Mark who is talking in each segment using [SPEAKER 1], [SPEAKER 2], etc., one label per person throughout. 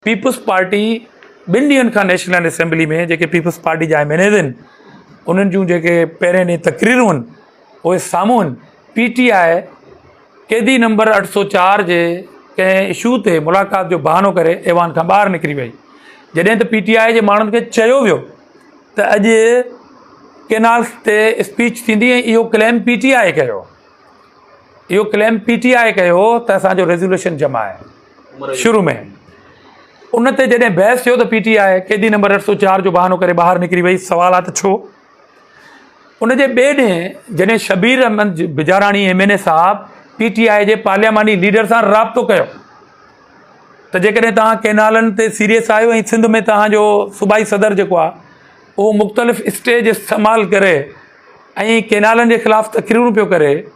[SPEAKER 1] peoples Party ٻن ڏينهن کان نيشنل اسيمبلي ۾ جيڪي پيپلز پارٽي جا ايم اين ايز آهن انهن جون جيڪي پهرين ڏينهن تقريرون آهن اهي سامهون آهن پي ٽي آء قيدي نمبر اٺ سو چار جي ڪنهن اشو تي ملاقات جو بهانو ڪري ايوان کان ٻاهر نڪري وئي جڏهن ته پي ٽي آء جي ماڻهن کي چيو ويو ته اڄ ڪينالس تي اسپيچ ٿيندي ۽ اهو ڪليم پي ٽي آء ڪيو اهو ڪليم پي ٽي آء ڪيو ته اسانجو ريزولوشن جمع آهي شروع ۾ ان تي جڏهن بحث ٿيو ته پي ٽي آء قيدي نمبر اٺ سو چار جو بهانو ڪري ٻاهر نڪري وئي سوال آهي ته ڇو ان جي ٻئي ڏينهن جڏهن Shabbir Ahmed Bijarani M N A صاحب پي ٽي آء جي پارلياماني ليڊر سان رابطو ڪيو ته جيڪڏهن توهان ڪينالن تي سيريس آهيو ۽ سنڌ ۾ توهانجو صوبائي صدر جيڪو آهي اهو مختلف اسٽيج استعمال ڪري ۽ ڪينالن جي خلاف تقريرون پيو ڪري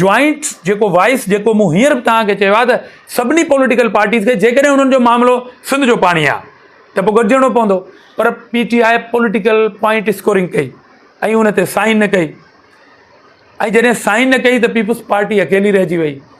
[SPEAKER 1] جوائنٽ جيڪو وائس جيڪو مون هينئر به توهان کي چيو آهي ته سڀني پوليٽيڪل پارٽيز کي جيڪڏهن انهن جو معاملو سنڌ جو پاڻي آهي ته پوء گڏجڻو پوندو پر P T I political point scoring ڪئي ۽ ان تي سائن نه ڪئي ۽ جڏهن سائن نه ڪئي ته پيپلز پارٽي اڪيلي رهجي وئي